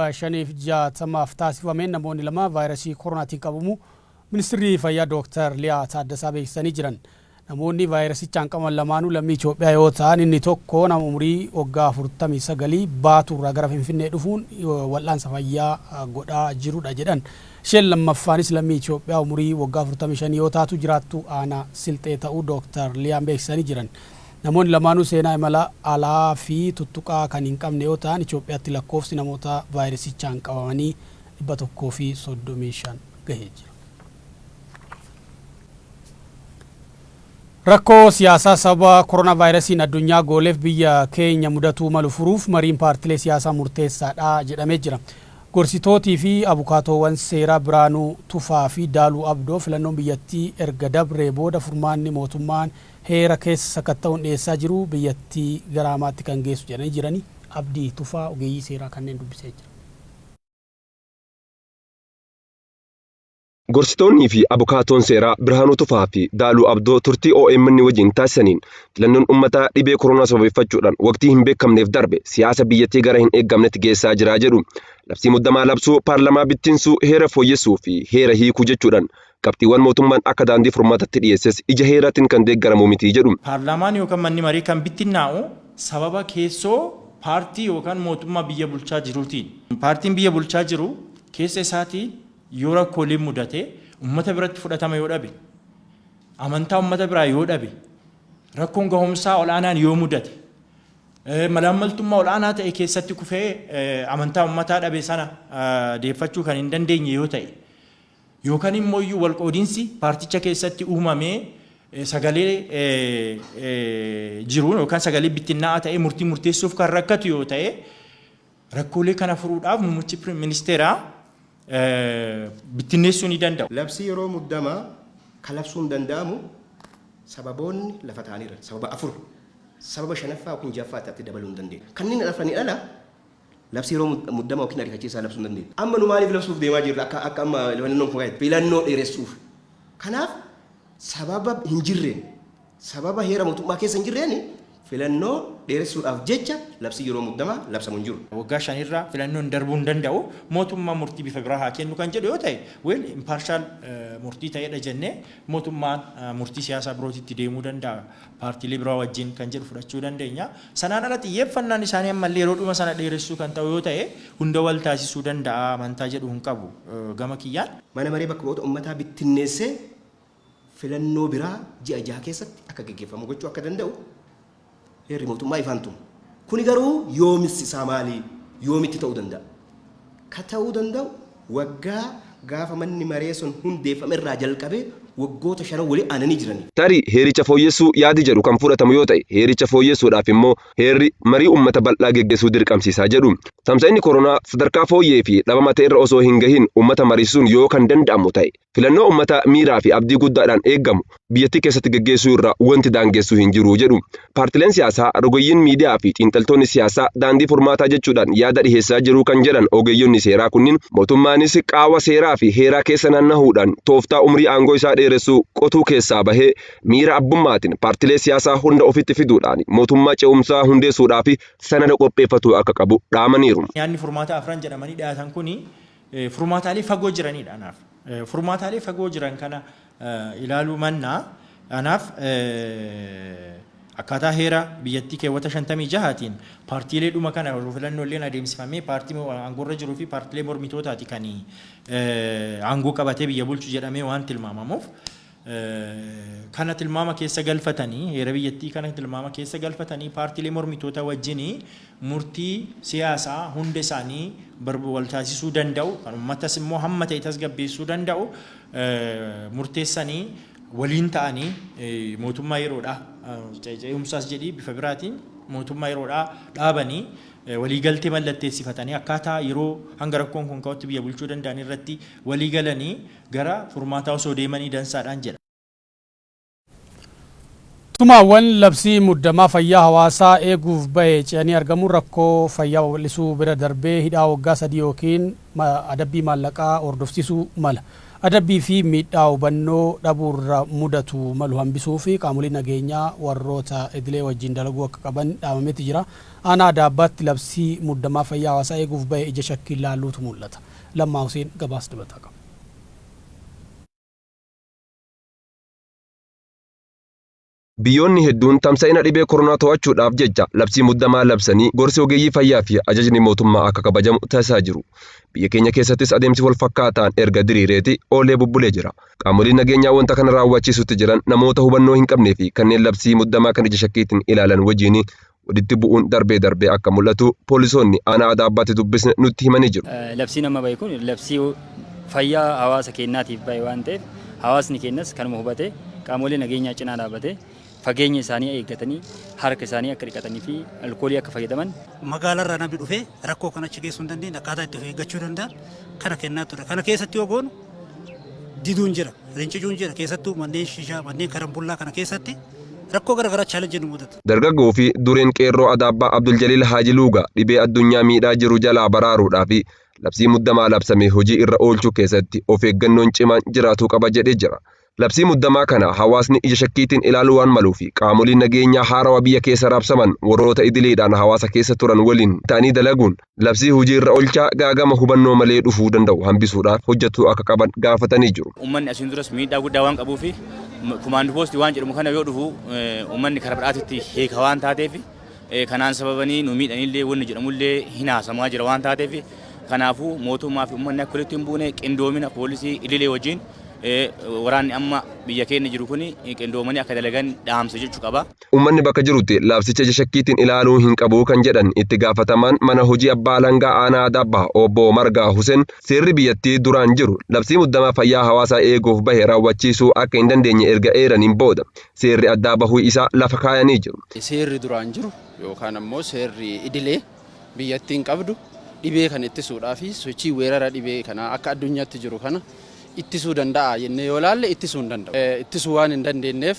1,560f taasifameen namoonni lama vaayrasii koroonaatiin qabamuu Ministirri Fayyaa Dooktar Liyaa Taaddasaa beeksisanii jiran. Namoonni vaayrasichaan qabaman lamaanuu lammii Itoophiyaa yoo ta'an inni tokko nama umurii waggaa 49 Baatuu irraa gara Finfinnee dhufuun wal'aansa fayyaa godhaa jirudha jedhan. Isheen lammaffaanis lammii Itoophiyaa umurii waggaa 45 yoo taatu jiraattuu aanaa Silxee ta'uu Dooktar Liyaan beeksisanii jiran. Namoonni lamaanuu seenaa imala alaa fi tuttuqaa kan hin qabne yoo ta'an Itoophiyaatti lakkoofsi namoota vaayirasichaan qabamanii 135 gahee jira. Rakkoo siyaasaa sababa koronaavaayirasiin addunyaa gooleef biyya keenya mudatuu malu furuuf mariin paartilee siyaasaa murteessaadha jedhamee jira. Gorsitootii fi abukaatoowwan seeraa Biraanuu Tufaa fi Daaluu Abdoo filannoon biyyattii erga dabree booda furmaanni mootummaan Heera keessa sakatta'uun dhiyeessaa jiru biyyattii gara hamaatti kan geessu jedhanii jirani. Abdii Tufaa ogeeyyii seeraa kanneen dubbisee jira. Gorsitoonnii fi abukaatoon seeraa Birhaanuu Tufaa fi Daaluu Abdoo turtii omn wajjin taasisaniin filannoon ummataa dhibee koroonaa sababeeffachuudhaan waqtii hin beekamneef darbe siyaasa biyyattii gara hin eegamnetti geessaa jira jedhu. Labsii muddamaa labsuu, paarlamaa bittinsuu, heera fooyyessuu fi heera hiikuu jechuudhaan qabxiiwwan mootummaan akka daandii furmaatatti dhiyeesses ija heeraatiin kan deeggaramu miti jedhu. Paarlaamaan yookan manni marii kan bittinnaa'u sababa keessoo paartii yookan mootummaa biyya bulchaa jiruutiin. Paartiin biyya bulchaa jiru keessa isaatii yoo rakkooleen mudate, ummata biratti fudhatama yoo dhabe, amantaa ummata biraa yoo dhabe, rakkoon gahumsaa ol'aanaan yoo mudate, malaammaltummaa ol'aanaa ta'e keessatti kufee amantaa ummataa dhabe sana deeffachuu kan hin dandeenye yoo ta'e, yookan immooyyuu walqoodinsi paarticha keessatti uumamee sagalee jiruun yookan sagalee bittinnaa'aa ta'ee murtii murteessuuf kan rakkatu yoo ta'e rakkoolee kana furuudhaaf muummichi ministeeraa bittinneessuu ni danda'u. Labsii yeroo muddamaa kan labsuun danda'amu sababoonni lafa taa'anii jiran sababa afur sababa shanaffaa yookiin ja'affaa itti dabaluu hin dandeenye. Kanneen hafanii ala Labsii yeroo muddamaa ykn ariifachiisaa labsuu hin dandeenyu. Amma nu maaliif labsuuf deemaa jirra akka akka amma filannoon fooya'aa jirti? Filannoo dheeressuuf. Kanaaf sababa hin jirreen, sababa heera mootummaa keessa hin jirreen filannoo dheeressuudhaaf jecha labsiin yeroo muddamaa labsamu hin jiru. Waggaa shan irra filannoon darbuu hin danda'u, mootummaan murtii bifa biraa haa kennu kan jedhu yoo ta'e, well impartial murtii ta'eedha jennee mootummaan murtii siyaasaa birootitti deemuu danda'a. paartiilee biraa wajjin kan jedhu fudhachuu dandeenya. Sanaan ala xiyyeeffannaan isaanii ammallee yeroo dhuma sana dheeressuu kan ta'u yoo ta'e hunda wal taasisuu danda'a amantaa jedhu hin qabu gama kiyyaan. Mana Maree Bakka Bu'oota Ummataa bittinneessee filannoo biraa ji'a jaha keessatti akka geggeeffamu gochuu akka danda'u heerri mootummaa ifaan tuma. Kuni garuu yoomisi isaa maali? Yoomitti ta'uu danda'a? ka ta'uu danda'u waggaa gaafa manni maree sun hundeeffame irraa jalqabee waggoota shanan wali aananii jiraniif. Tarii heericha fooyyessuu yaadi jedhu kan fudhatamu yoo ta'e heericha fooyyessuudhaaf immoo heerri marii ummata bal'aa geggesuu dirqamsiisa jedhu. Tamsa'inni koronaa sadarkaa fooyyee fi dhabama ta'erra osoo hin gahin ummata mariisisuun yoo kan danda'amu ta'e, Filannoo ummata miiraa fi abdii guddaadhaan eegamu biyyattii keessatti geggeessuu irraa wanti daangessu hin jiru jedhu. Paartileen siyaasaa, rogeeyyiin miidiyaa fi xiinxaltoonni siyaasaa daandii furmaataa jechuudhaan yaada dhiheessaa jiru kan jedhan ogeeyyonni seeraa kunniin, mootummaanis qaawwa seeraa fi heeraa keessa naannahuudhaan tooftaa umrii aangoo isaa dheeressu qotuu keessaa bahee miira abbummaatiin paartilee siyaasaa hunda ofitti fiduudhaan mootummaa ce'umsaa hundeessuudhaaf sanada qopheeffatuu akka qabu dhaamaniiru. Yaadni furmaataa afran jedhamanii dhiyaatan kun furmaataalee fagoo jiranidha anaaf. Furmaataalee fagoo jiran kana ilaaluu mannaa anaaf akkaataa heera biyyattii keewwata 56tiin paartiilee dhuma kana yeroo filannoo illee adeemsifamee paartii aangoorra jiruu fi paartiilee mormitootaati kan aangoo qabatee biyya bulchu jedhamee waan tilmaamamuuf kana tilmaama keessa galfatanii, heera biyyattii kana tilmaama keessa galfatanii paartiilee mormitootaa wajjin murtii siyaasaa hunda isaanii barba wal taasisuu danda'u, kan ummatas immoo hamma ta'e tasgabbeessuu danda'u murteessanii waliin ta'anii mootummaa yeroodhaa ce'umsaas jedhii bifa biraatiin mootummaa yeroodhaa dhaabanii waliigaltee mallatteessifatanii akkaataa yeroo hanga rakkoon kun ka'utti biyya bulchuu danda'an irratti waliigalanii gara furmaataa osoo deemanii dansaadhaan jedha. Tumaawwan labsii muddamaa fayyaa hawaasaa eeguuf bahe ce'anii argamuun rakkoo fayyaa babal'isuu bira darbee hidhaa waggaa sadii ykn adabbii maallaqaa hordofsiisuu mala. Adabbii fi miidhaa hubannoo dhabuurra mudatu malu hambisuuf qaamoliin nageenyaa warroota idilee wajjin dalaguu akka qaban dhaamameeti jira. Aanaa Adaabbaatti labsii muddamaa fayyaa hawaasaa eeguuf bahe ija shakkiin laaluutu mul'ata. Lammaa Huseen gabaasa dabalataa qaba. Biyyoonni hedduun tamsa'ina dhibee koronaa to'achuudhaaf jecha labsii muddamaa labsanii gorsi ogeeyyii fayyaa fi ajajni mootummaa akka kabajamu taasisaa jiru. Biyya keenya keessattis adeemsi wal fakkaataan erga diriireeti oolee bubbulee jira. Qaamoliin nageenyaa wanta kana raawwachiisutti jiran namoota hubannoo hin qabnee fi kanneen labsii muddamaa kan ija shakkiitiin ilaalan wajjin walitti bu'uun darbee darbee akka mul'atu poolisoonni aanaa Adaabbaatti dubbisne nutti himanii jiru. Labsiin amma bahe kun labsii fayyaa hawaasa keenyaatiif bahe waan ta'eef hawaasni keenyas kanuma hubatee qaamolee nageenyaa cinaa dhaabatee fageenya isaanii eeggatanii harka isaanii akka dhiqatanii fi alkoolii akka fayyadaman magaalarraa namni dhufee rakkoo kana achi geessuu hin dandeenye akkaataa itti of eeggachuu danda'a kana kennaa ture. Kana keessatti yoo goonu diduun jira, rincicuun jira keessattuu manneen shishaa, manneen karambullaa kana keessatti rakkoo garaagaraa chaalenjii nu mudata. Dargaggoo fi dureen qeerroo Adaabbaa Abduljaliil Haaji Luugaa dhibee addunyaa miidhaa jiru jalaa baraaruudhaa fi labsii muddamaa labsame hojii irra oolchuu keessatti of eeggannoon cimaan jiraatuu qaba jedhee jira. Labsii muddamaa kana hawaasni ija shakkiitiin ilaaluu waan maluu fi qaamoliin nageenyaa haarawa biyya keessa raabsaman warroota idileedhaan hawaasa keessa turan waliin ta'anii dalaguun labsii hojii irra olchaa gaagama hubannoo malee dhufuu danda'u hambisuudhaaf hojjachuu akka qaban gaafatanii jiru. Uummanni asiin duras miidhaa guddaa waan qabuu fi kumaand poostii waan jedhamu kana yoo dhufu uummanni karaa badhaatitti hiika waan taateef kanaan sababanii nu miidhanillee wanni jedhamullee hin haasamaa jira waan taateef kanaafuu mootummaa fi uummanni akka walitti hin buune qindoomina poolisii idilee wajjin waraanni amma biyya keenya jiru kun qindoomanii akka dalagan dhaamsa jechuu qaba. Uummanni bakka jirutti labsicha ija shakkiitiin ilaaluu hin qabu kan jedhan itti gaafatamaan mana hojii abbaa alangaa aanaa Adaabbaa obbo Margaa Huseen seerri biyyattii duraan jiru labsii muddamaa fayyaa hawaasaa eeguuf bahe raawwachiisuu akka hin dandeenye erga eeraniin booda seerri addaa bahuu isaa lafa kaayanii jiru. Seerri duraan jiru yookaan ammoo seerri idilee biyyattiin qabdu dhibee kana ittisuudhaa fi sochii weerara dhibee kanaa akka addunyaatti jiru kana ittisuu danda'a jennee yoo ilaalle ittisuu hin danda'u. Ittisuu waan hin dandeenyeef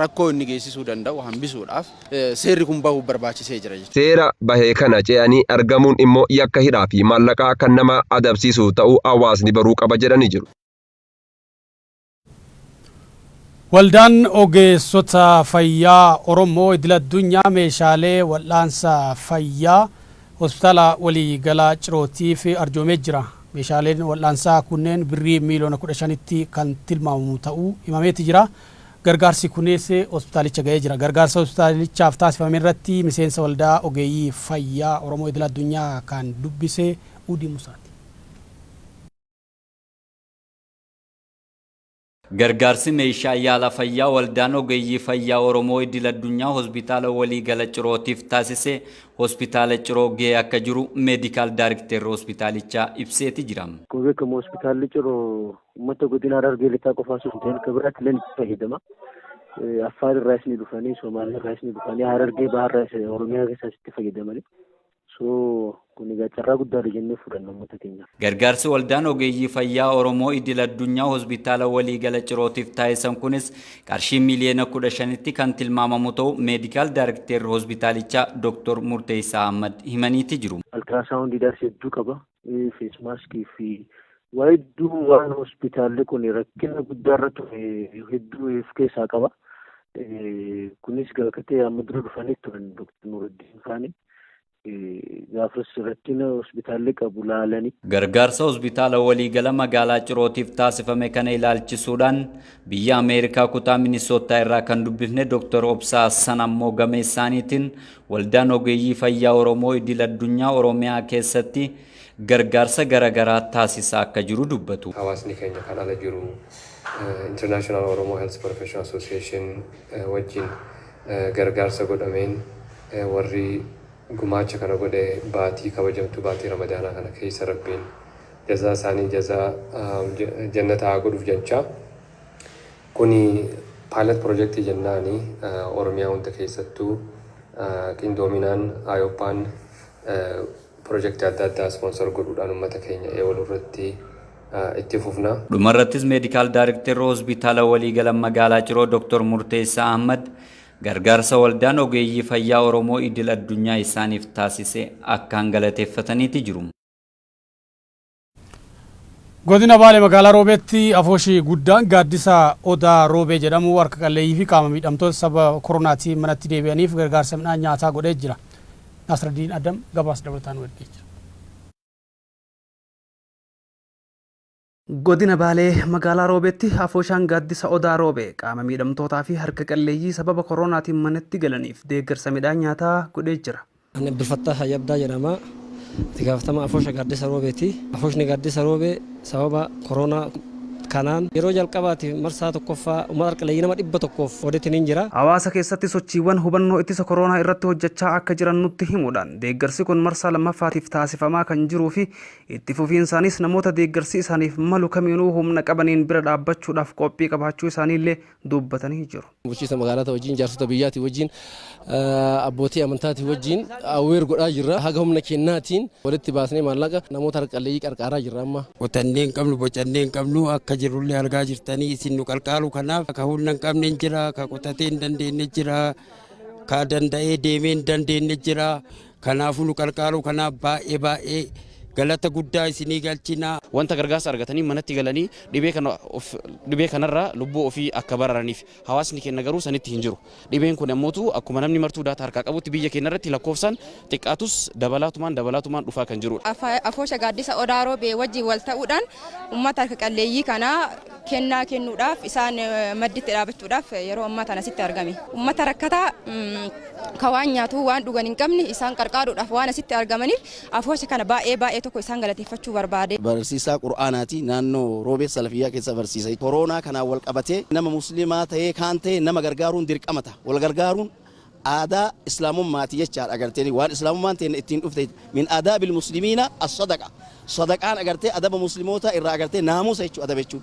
rakkoo inni geessisuu danda'u hambisuudhaaf seerri kun bahuu barbaachisee jira jechuudha. Seera bahe kana ce'anii argamuun immoo yakka hidhaa fi maallaqaa kan nama adabsiisu ta'uu hawaasni baruu qaba jedhanii jiru. Waldaan Ogeessota Fayyaa Oromoo Idil Addunyaa meeshaalee wal'aansa fayyaa Hospitaala Walii Galaa Cirootiif arjoomee jira. Meeshaaleen wal'aansaa kunneen birrii miiliyoona 15tti kan tilmaamamu ta'uu himameeti jira. Gargaarsi kunis hospitaalicha ga'ee jira. Gargaarsa hospitaalichaaf taasifame irratti miseensa waldaa ogeeyyii fayyaa Oromoo idil addunyaa kan dubbise Uudi Musaati. Gargaarsi meeshaa yaala fayyaa waldaan ogeeyyii fayyaa Oromoo idil addunyaa hospitaala walii gala Cirootiif taasise hospitaala Ciroo ga'ee akka jiru meedikaal daarikteerri hospitaalichaa ibseeti jira. Akkuma beekamu hospitaalli Ciroo Uummata godina Harargee lixaa qofaa osoo hin ta'in kan biraatti illee itti fayyadama. Affaar irraas ni dhufanii, Somaaliyaa irraas ni dhufanii, Harargee Bahaa irraas Oromiyaa keessaas itti fayyadamani. So kun egaa carraa guddaadha jennee fudhanna uummata keenyaaf. Gargaarsi waldaan ogeeyyii fayyaa Oromoo idil addunyaa hospitaala waliigala cirootiif taasisan kunis qarshii miiliyoona kudha shanitti kan tilmaamamu ta'u meedikaal daarikteerri hospitaalichaa Dooktor Murteessaa Ahmad himaniiti jiru. Altiraasaawundii daas hedduu qaba. fees maaskii fi waa hedduu waan hospitaalli kun rakkina guddaarra ture hedduu of keessaa qaba. Kunis gaafate amma dura dhufanii turan Dr. Nuruddin Faani. Gaafas rakkina hospitaalli qabu laalanii. Gargaarsa hospitaala waliigala magaalaa Cirootiif taasifame kana ilaalchisuudhaan biyya Ameerikaa kutaa Minisoottaa irraa kan dubbifne Dr. Obsaa Hassan ammoo gameessaaniitiin Waldaan Ogeeyyii Fayyaa Oromoo Idil Addunyaa Oromiyaa keessatti gargaarsa gara garaa taasisaa akka jiru dubbatu. Hawaasni keenya kan ala jiru International Oromo Health Professional Association wajjin gargaarsa godhameen warri gumaacha kana godhe baatii kabajamtuu baatii Ramadaanaa kana keessa Rabbiin jazaa isaanii jazaa Jannataa haa godhuuf jechaa Kuni pilot project jennaani Oromiyaa hunda keessattuu qindoominaan Iopan project adda addaa sponsor godhuudhaan ummata keenya eewalu irratti itti fufna. Dhumarrattis Medical Directorri Hospitaala Waliigala Magaalaa Ciroo Dr. Murteessaa Ahmad gargaarsa Waldaan Ogeeyyii Fayyaa Oromoo Idil Addunyaa isaaniif taasise akkaan galateeffataniiti jiru. Godina Baale magaalaa Roobeetti afooshii guddaan gaaddisa Odaa Roobee jedhamu harka qalleeyyii fi qaama miidhamtoota saba koronaatiin manatti deebi'aniif gargaarsa midhaan nyaataa godhee jira. Nasraddiin Adam gabaasa dabalataa nu ergee jira. Godina Baalee magaalaa Roobeetti afooshaan gaaddisa Odaa Roobee qaama miidhamtootaa fi harka qalleeyyii sababa koronaatiin manatti galaniif deeggarsa midhaan nyaataa godhee jira. Ani Abdulfattaah Hayyabdaa jedhama. Itti gaafatamaa Afoosha Gaaddisa Roobeeti. Afooshni Gaaddisa Roobee sababa koroonaa kanaan yeroo jalqabaatiif marsaa 1ffaa uummata harqaleeyyii nama 100f qoodetiniin jira. Hawaasa keessatti sochiiwwan hubannoo ittisa koroonaa irratti hojjachaa akka jiran nutti himuudhaan, deeggarsi kun marsaa 2ffaatiif taasifamaa kan jiruufi itti fufiinsaanis namoota deeggarsi isaaniif malu kamiinuu humna qabaniin bira dhaabbachuudhaaf qophii qabaachuu isaaniillee dubbatanii jiru. Bulchiinsa magaalaatii wajjin, jaarsota biyyaatii wajjin, abbootii amantaatii wajjin awweer godhaa jirra. Haga humna keennaatiin walitti baasnee maallaqa namoota harka qalleeyyii qarqaaraa jirra amma. Qotannee hin qabnu, bocannee hin qabnu, akka jirrullee argaa jirtanii isin nu qarqaaru kanaaf ka humna hin qabne hin jira, ka qotatee hin dandeenye jira, ka danda'ee deemee hin dandeenye jira. Kanaafuu nu qarqaaruu kanaaf baay'ee baay'ee galata guddaa isinii galchina. Wanta gargaarsa argatanii manatti galanii dhibee kana of dhibee kanarraa lubbuu ofii akka baraaraniif. Hawaasni keenna garuu sanitti hin jiru. Dhibeen kuni ammootu akkuma namni martuu daataa harkaa qabutti biyya keenna irratti lakkoofsaan xiqqaatus dabalaatumaan dabalaatumaan dhufaa kan jiruudha. Afoosha Gaaddisa Odaa Roobee wajjin wal ta'uudhaan ummata harka qalleeyyii kana. kennaa kennuudhaaf isaan madditti dhaabachuudhaaf yeroo ammaa tana asitti argame. Uummata rakkataa ka waan nyaatu waan dhugan hin qabne isaan qarqaaruudhaaf waan asitti argamaniif afoosha kana baay'ee baay'ee tokko isaan galateeffachuu barbaade. Barsiisaa Qur'aanaati. Naannoo Roobee Salafiyyaa keessa barsiisa. Koroonaa kanaan wal qabatee nama muslimaa ta'ee kaan ta'e nama gargaaruun dirqama ta'a. Wal gargaaruun aadaa islaamummaati jechaadha agartee waan islaamummaan teenna ittiin dhufte min aadaabil muslimiina as-sadaqa sadaqaan agartee adaba muslimootaa irraa agartee naamusa jechuu adaba jechuu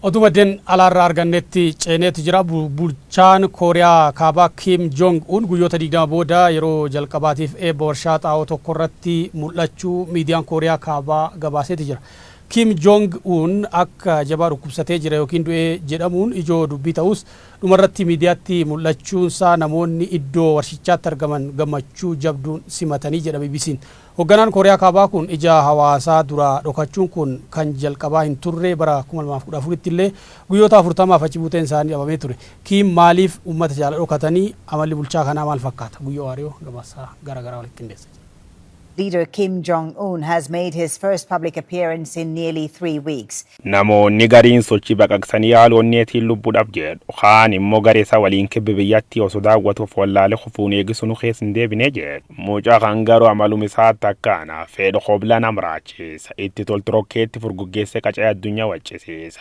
Oduu maddeen alaarraa argannetti ceeneetu jira. Bulchaan Kooriyaa Kaabaa Kiim Joong Un guyyoota 20 booda yeroo jalqabaatiif eebba warshaa xaa'oo tokko irratti mul'achuu miidiyaan Kooriyaa Kaabaa gabaaseeti jira. Kiim Joong Un akka jabaa dhukkubsatee jira yookiin du'ee jedhamuun ijoo dubbii ta'us Dhumarratti miidiyaatti mul'achuunsaa namoonni iddoo warshichaatti argaman gammachuu jabduun simatanii jedha BBC'n. Hogganaan Kooriyaa Kaabaa kun ija hawaasaa duraa dhokachuun kun kan jalqabaa hin turre, bara 2014tti illee guyyoota 40f achi buuteen isaanii dhabamee ture. Kiim maaliif uummata jaala dhokatanii? Amalli bulchaa kanaa maal fakkaata? Guyyoo Waariyoo gabaasa gara garaa walitti qindeessee jira. Leader Kim Jong Un has made his first public appearance in nearly three weeks. Namoonni gariin sochii baqaqsanii haala onneetiin lubbu dhab jedhu. Kaan immoo garee isaa waliin kibbi biyyattii osoo daawwatu of wallaalee kufuun eegi sunu keessa hin deebine jedhu. Muca kan garuu amalum isaatti akkaana. Fedhu kobla nam raachiisa. Itti toltu rokkeetti furguggeessee qacee addunyaa waccisiisa.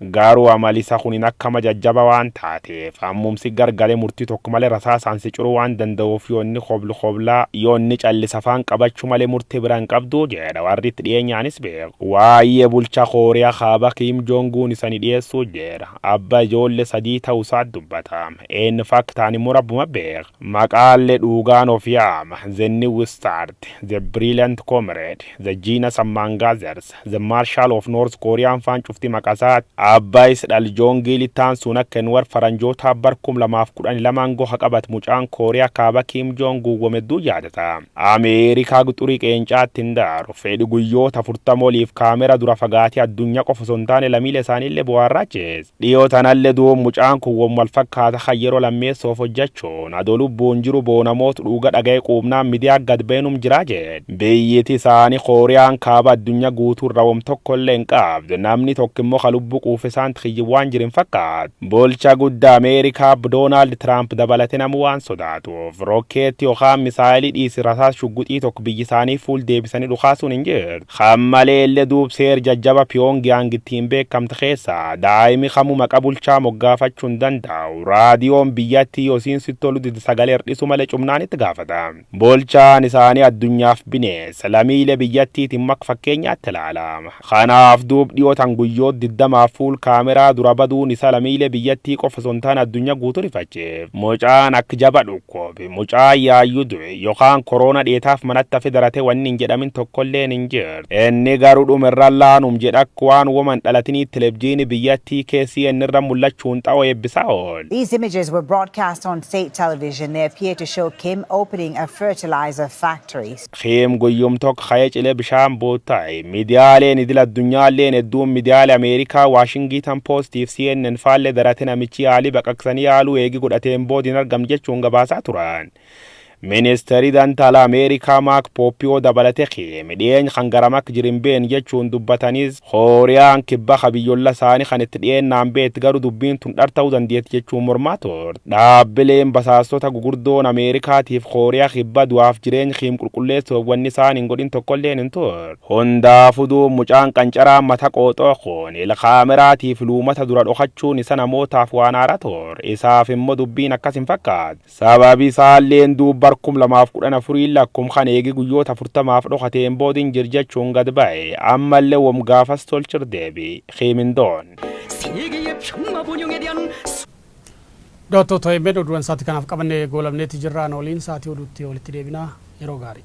Gaaruu amali isa kunin akkama jajjaba waan taateef ammum si gargale murtii tokko male rasaasaan si curuu waan danda'uuf yoo inni koblu kobla yoo inni callise afaan qabachu male murte bira hin qabdu jeedha warri itti dhiyeenyaanis beeku. Waayee bulcha Kooriya kaaba Kim Jong Un isani dhiyeessu jeedha. Abba ijoolle sadii ta'u isaat dubbata. In fact ani immoo rabbuma beeka. Maqaalle dhuugaan of yaama. The New Start, The Brilliant Comrade, The Genius Among Others, The Marshal of North Korea faan cufti maqasaa Abbaayis dhal Joongii Litaan suun akka hin war faranjootaa bar 2012 ngo haqabat mucaan Korea kaaba Kim Jong guwwam hedduu yaadata. Ameerikaa guxurii qeencaatti hin daaru. Fedhi guyyoota 40 oliif kaamera dura fagaatee addunya qofa osoo hin taane lamiile isaaniille bohaarraa jees. Dhiyoo tanalle duub mucaan kun wom wal fakkaata kan yeroo lammeessoof hojjachuun adoo lubbuun jiru boonamoot dhuuga dhagaye quubnaan midiyaa gad baye num jiraa jedhe. Biyyiti isaani Kooriyaan Kaaba addunya guutu irra wom tokkolle hin qabdu. Namni tokko immo ka lubbu quufe saanti kiyyi waan jiru hin fakkaatu. Bulcha gudda America Ab Donald Trump dabalate namu waan sodaatuuf rokkeetti yokaan misaayeli dhiisi rasaas shugguxii tokko biyyi isaanii fuul deebisani dhukaasuun hin jirtu. Kan maleelle duub seer jajjaba Pyongyang ittiin beekamte keessaa daa'imi kamu maqa bulchaa moggaafachu hin dandaa'u, raadiyoon biyyatti yo isiin sitti tolu dide sagale irdhisu male cumnaan itti gaafata. Bulchaan isaani addunyaaf bineessa, lamiile biyyattiitin mak fakkeenyaatti laala. Kanaaf duub dhiyo tan guyyoot diddamaaf fuul kaameraa dura baduun isa lamiile biyyattii qofa son taane addunya guutu rifache. Mucaan akk jaba dhukkoob. Mucaa yaayyu du'e yokaan koroona dheetaaf manatti hafe darate wanni hin jedhamin tokkolleen hin jirtu. Inni garu dhumerra laanum jedha akka waan woma hin dhalatinii televjiini biyyattii KCN irra mullachuun xawo eebbisaa oole. These images were broadcast on state television. They appear to show Kim opening a fertilizer factory. Kiim Goyyom Tok Ka'ee Cilee Bishaan Bootta'e. Midiyaaleen idil addunyaalleen hedduun midiyaale Ameerikaa Waashingiitan Poostiif CNN faallee darate namichi yaalii baqaqsanii yaaluu eegi godhateen bood hin argamne jechuun gabaasaa turan. Ministeeri Danta Alaa Ameerikaa Maak Pooppiyoo dabalate Kiim dhiyeeny kan garam akka jiru hin beekne jechuun dubbatanis. Kooriyaan Kibba ka biyyolla saani kan itti dhiyeennaan beetti garu dubbiin tun dhar ta'u dandeetti jechuun mormaa turte. Dhaabbileen basaastota gugurdoon Ameerikaatiif Kooriya Kibba du'aaf jireeny Kiim qulqulleessuuf wanni isaan hin godhin tokkolleen hin turre. Hundaafu duub mucaan qancaraan mata qooxoo kun il kaameraatiif luumata dura dhokachuun isa namootaaf waan haara turre. Isaaf immo dubbiin akkas hin fakkaatu. Sababi isaalleen duub bar 2014 lakkum kan eegi guyyoota 40f dhokateen bood hin jir jachuun gad baye. Ammalle wom gaafas tolchir deebi. Kiimindoon. Daawwattoota obn oduuwwan sa'aatii kanaaf qabannee goolabneeti jirra. Nu waliin sa'aatii oduutti walitti deebina. Yeroo gaarii.